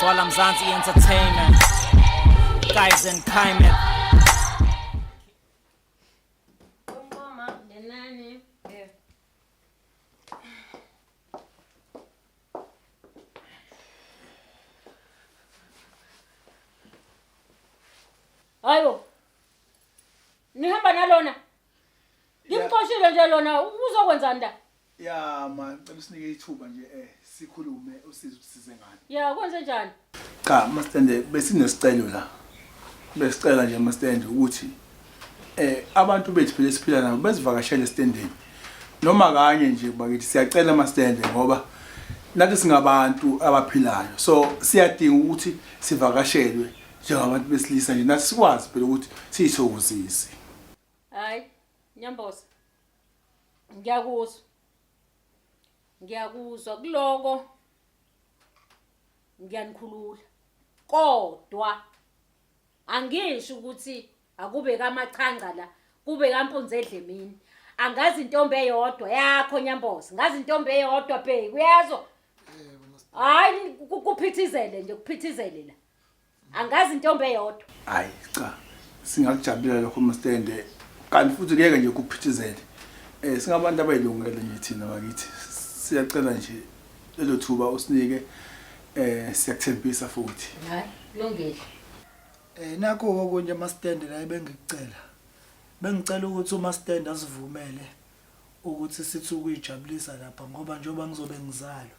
Twala Mzansi Entertainment. Guys and Kaimet. Ayo. Nihamba nalona. Ngimxoshile nje lona uzokwenzani la? Ya ma ngicela usinike ithuba nje eh sikhulume usize usize ngani. Ya kwenze njani? Cha mastende besinesicelo la. Besicela nje mastende ukuthi eh abantu bethu phela siphila nabo besivakashele estendeni. Noma kanye nje bakithi siyacela mastende ngoba nathi singabantu abaphilayo. So siyadinga ukuthi sivakashelwe njengabantu besilisa nje nathi sikwazi phela ukuthi siyithokozise. Hayi, nyambosa. ngiyakuzwa ngiyakuzwa kuloko ngiyanikhulula kodwa angisho ukuthi akube kamachanga la kube kampunzi edlemini angazi intombi eyodwa yakho nyambozi ngazi intombi eyodwa bheki uyezwa hayi kuphithizele nje kuphithizele la angazi intombi eyodwa hayi cha singakujabulela lokho mstende kanti futhi kuyeke nje kuphithizele eh singabantu abayilungele nje thina bakithi siyacela nje lelo thuba usinike eh siyakuthembisa futhi hayi kulungile eh nakho okunye mastende la ebengikucela bengicela ukuthi umastende asivumele ukuthi sithi ukuyijabulisa lapha ngoba njengoba ngizobe ngizalo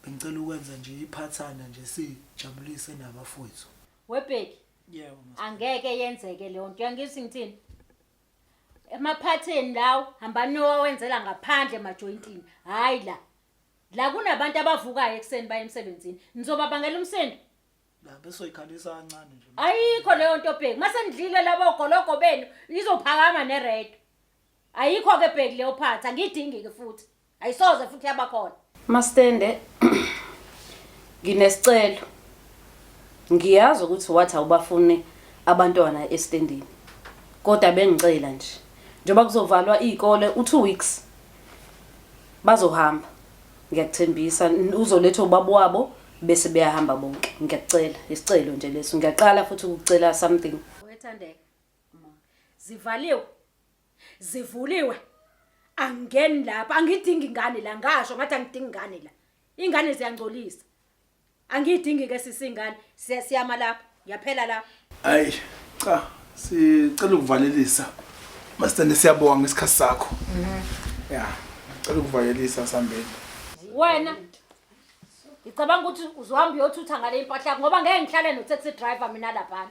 Bengicela ukwenza nje iphathana nje sijabulise nabafowethu. Webheki. Yebo. Angeke yenzeke leyo nto. Uyangizwa ngithini? Emaphatheni lawo hamba nowawenzela ngaphandle emajointini. Hayi la. La kunabantu abavukayo ekseni baye emsebenzini. Nizoba bangela umsindo. La bese uyikhalisa kancane nje. Ayikho leyo nto bheki. Mase nidlile labo gologo benu izophakama nered. Ayikho ke bheki leyo phatha. Ngidingi ke futhi. ayisoze futhi yabakhona mastende nginesicelo ngiyazi ukuthi wathi awubafuni abantwana estendini kodwa bengicela nje njengoba kuzovalwa izikole u2 weeks bazohamba ngiyakuthembisa uzoletha ubaba wabo bese beyahamba bonke ngiyakucela isicelo nje leso ngiyaqala futhi ukucela something wethandeka zivaliwe zivuliwe angingeni lapha angidingi ingane la ngasho ngathi angidingi ingane la ingane ziyangcolisa angiyidingi ke sisi ingane siya- siyama lapha yaphela lapha hayi cha sicela ukuvalelisa masithande siyabonga ngesikhathi sakho ya cela ukuvalelisa sambeni wena ngicabanga ukuthi uzohamba uyothutha ngale impahla yakho ngoba ngeke ngihlale no-taxi driver mina laphana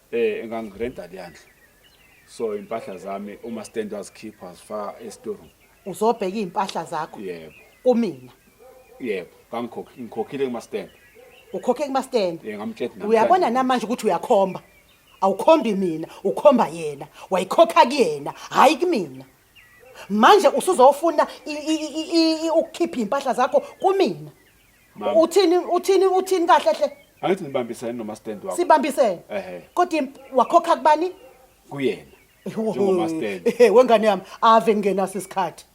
Eh engangirenta leyandlu. So impahla zami uma stand wazikhipha wazifaka estoreroom. Uzobheka impahla zakho Yebo. kumina. Yebo, kangikhokhi ngikhokhile kuma stand. Ukhokhe kuma stand. Yeah, ngamtshela namhlanje. Uyabona namanje ukuthi uyakhomba. Awukhombi mina, ukhomba yena. Wayikhokha kuyena, hayi kumina. manje usuzofuna i- i- i- i- i- ukukhipha impahla zakho kumina Mama. uthini uthini uthini kahle hle angithi nibambisane noma stand wakho sibambisene Ehhe. kodwa imp- wakhokha kubani kuyena Yho, Njengoba stand. ehe, wengane yami ave ngingenaso isikhathi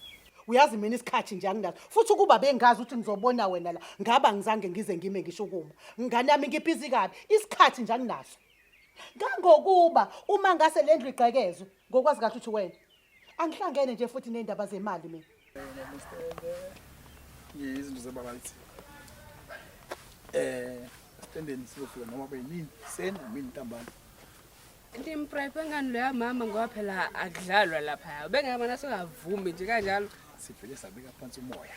uyazi mina isikhathi nje anginaso futhi ukuba bengazi ukuthi ngizobona wena la ngaba ngizange ngize ngime ngisho ukuma ngane yami ngibhizi kabi isikhathi nje anginaso Kangokuba uma ngase lendlu igqekezwe ngokwazi kahle ukuthi wena angihlangene nje futhi nezindaba zemali mina. Ngiyizinto zebaba lithi. Eh, standeni siyofika noma benini seni mina ntambama. Ndimprephe ngani loya mama ngoba phela akudlalwa lapha. Ubengeke mana singavumi nje kanjalo. Sivele sabeka phansi umoya.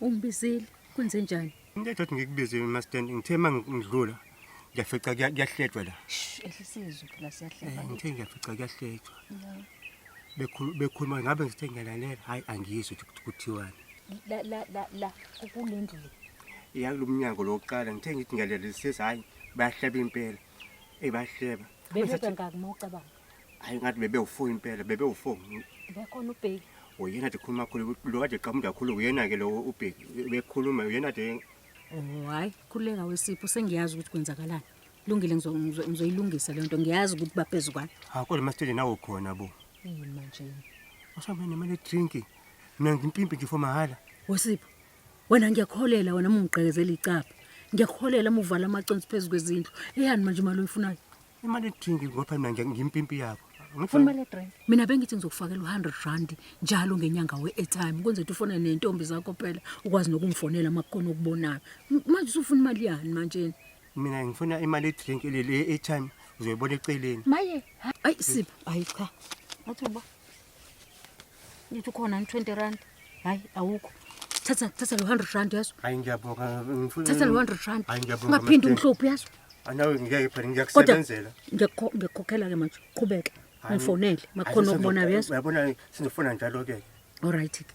Ungibizile kwenze njani? Into ethi ngikubizile mastand ngithe mangidlula ngiyafica kuyahletshwa la. Shh ehlisizwe phela siyahleka. Eh, ngithe ngiyafica kuyahletshwa. Bekhulu bekhuluma ngabe ngithe ngiyalalela hayi angizwe ukuthi kuthiwani. La la la la kulendlu le. Iyakulomnyango lokuqala ngithe ngithi ngiyalalelisisa hayi bayahleba impela. Ebahleba. Bebeka ngakumucabanga. Hayi ngathi bebe ufo impela, bebe ufo. Bekhona ubheki. Uyena nje khuluma khulu, lo kade qhamuda kakhulu uyena ke lo ubheki. Bekhuluma uyena nje Oh hayi khuleka wesipho sengiyazi ukuthi kwenzakalani. Lungile ngizo- ngizo- ngizoyilungisa le nto ngiyazi ukuthi baphezu kwani. ha kodwa masitshele nawe ukhona bo. Yini manje? Usambe nemali drink. Mina ngimpimpi nje for mahhala. Wesipho wena ngiyakholela wena mungigqekezela icapha. Ngiyakholela muvala amaconsi phezu kwezindlu. Eyani manje imali oyifunayo? imali drink ngoba mina nje ngimpimpi yakho Funa imali yedrink. mina bengithi ngizokufakela u-hundred rand njalo ngenyanga we-airtime kwenza ukuthi ufone nentombi zakho phela ukwazi nokungifonela uma kukhona okubonayo M- manje usufuna imali yani manjeni mina ngifuna imali yedrink le airtime uzoyibona eceleni maye ayi sipho ayi cha athi uba Ngithi khona 20 rand. Hayi awukho. Thatha thatha lo 100 rand yazo. Hayi ngiyabonga ngifuna. Thatha lo 100 rand. Hayi ngiyabonga. Ungaphindi umhlophe yazo. Anawe ngeke phela ngiyakusebenzela. Ngiyakukhokhela ke manje. Qhubeke. Ngifonele. Makhona ukubona yazo. Uyabona sinifuna njalo ke. All right ke.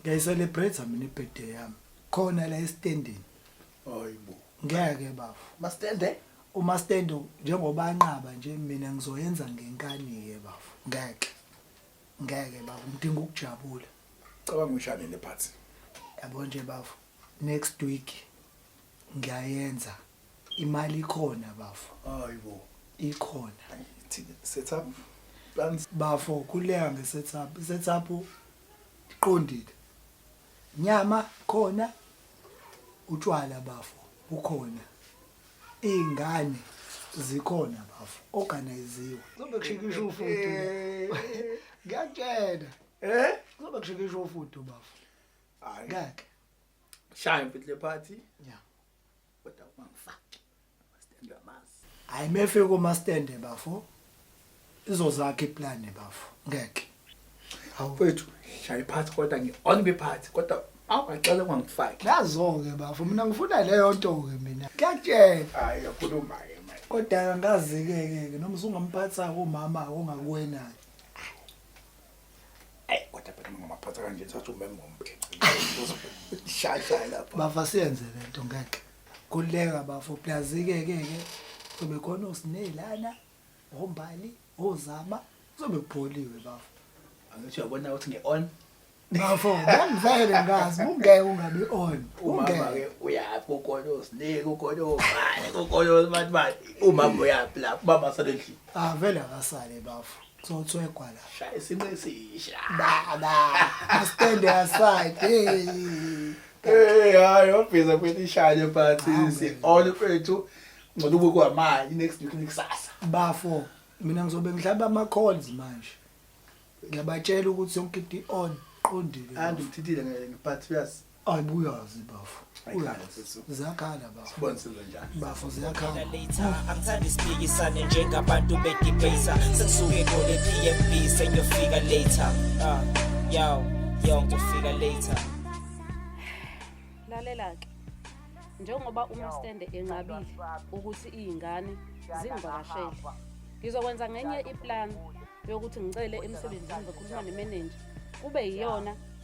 Ngiyayicelebrate mina ibirthday yami. Khona la estendini. Hayibo. Ngeke bafo. Mastende? Uma stand njengoba anqaba nje mina ngizoyenza ngenkani ke bafo. Ngeke. Ngeke bafo ngidinga ukujabula. Cabanga ushane le party. Yabo nje bafo. Next week ngiyayenza. Imali ikhona bafo. Hayibo. Ikhona. Thina setup plans bafo kuleya nge setup. Setup Ndiqondile. Nyama khona utshwala bafo bukhona. Iy'ngane zikhona bafo organiziwe. Kuzobe kushikisha ufudu. Ngiyakutshela. Eh? Kuzobe kushikisha ufudu bafo. Hayi. Ngeke. Shaya mfethu le party. Yeah. kodwa ungangifaki amastand amazi hayi mefe komastand bafo izozakhe iplan bafo ngeke awufethu shayi phansi kodwa ngi on be phansi kodwa awuqale ungangifaki nazo-ke bafo mina ngifuna leyo nto-ke mina kuyatshela hayi yakhuluma ke manje kodwa angazi-ke-ke noma usungamphathisa-ke umama ongakuwenayo Ay kodwa phela ngamaphatha kanje sathi umeme ngomthi. Shasha lapha. Bava siyenze lento ngeke. Kuleka bafo plus ke ke ke sobe khona usinelana ombali ozama sobe kupholiwe bafo. Angithi uyabona ukuthi nge on Bafo, bangivele ngazi, ungeke ungabi on. umama ke Ungeke. uyaphi ukona usinike ukona ubani ukona ubantu bani umama uyaphi lapho umama sale endlini Ah vele akasale bafo. Zotswegwa la. Shaya isimo esisha. Baba. Stand aside. Hey. Hey, hayi obhiza kwethu ishanye phansi si all kwethu ngcono kube kwamanje next week nekusasa. Bafo, mina ngizobe ngidlaba ama calls manje. Ngiyabatshela ukuthi yonke into on qondile. Andikuthithile ngeke but uyazi Ayibuyazi bafo. Uyazi. Ziyakhala bafo. Sibonsele njani? Bafo ziyakhala. later angithandi siphikisane njengabantu bedebata sengisuke ngole pmb sengiyofika later Ah, yo yo ngizofika later lalela-ke njengoba umastende enqabile ukuthi iy'ngane zingivakashele ngizokwenza ngenye iplani yokuthi ngicele emsebenzini ngizokhuluma nemenenja kube yiyona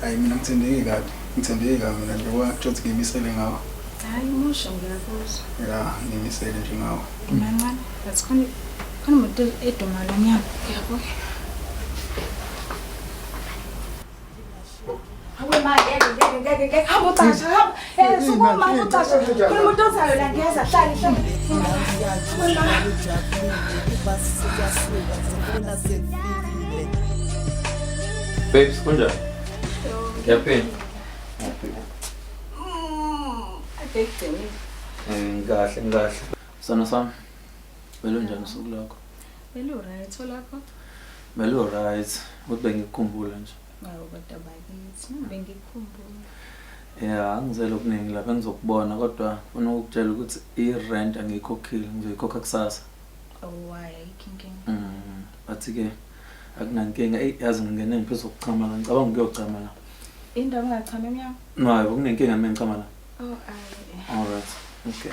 Hayi mina ngithembeke kabi. Ngithembeke kabi mina nje kwathi ngimisele ngawo. Hayi umusha ngiyakuzwa. Ya, ngimisele nje ngawo. Mancane, but khona khona umuntu eduma lo mnyango. Yabo. Hawe ma ngeke ngeke ngeke ngeke hamba ucasha hamba. Eh, sukuma ucashe. Khona umuntu ozayo la ngiyeza hlali hlali. Babes, kunjani? Yapeni? Ngikahle, ngikahle. Sona sami. Belo njani usuku lakho? Belo right, olakho? Belo right. Kodwa ngikukhumbula nje. Awu kodwa bakithi bengikhumbula. Yeah, ngizele okuningi lapha ngizokubona kodwa ufuna ukutshela ukuthi i-rent angiyikhokhile ngizoyikhokha kusasa. Oh why ayikho inkinga. Mm, bathi ke akunankinga. Ey yazi ngingene ngiphezu kokuchama la ngicabanga ukuyochama la. Indawo ungachama emnyango? No, hayi kunenkinga mina ngichama la. Oh ayi. Alright. Okay.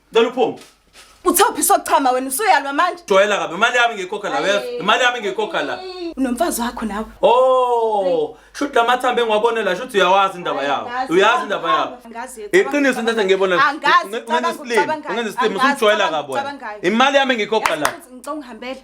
Cela uphume. Uthophi sochama wena usuyalwa manje. Joyela kabi imali yami ngiyikhokha la wena. Imali yami ngiyikhokha la. Unomfazi wakho nawe. Oh, shuthi lamathambo engiwabone la shuthi uyawazi indaba yawo. Uyazi indaba yawo. Iqiniso into engathi ngiyibona. Ungenza islimo, ungenza islimo usujoyela kabi wena. Imali yami ngiyikhokha la. Ngicela ungihambele.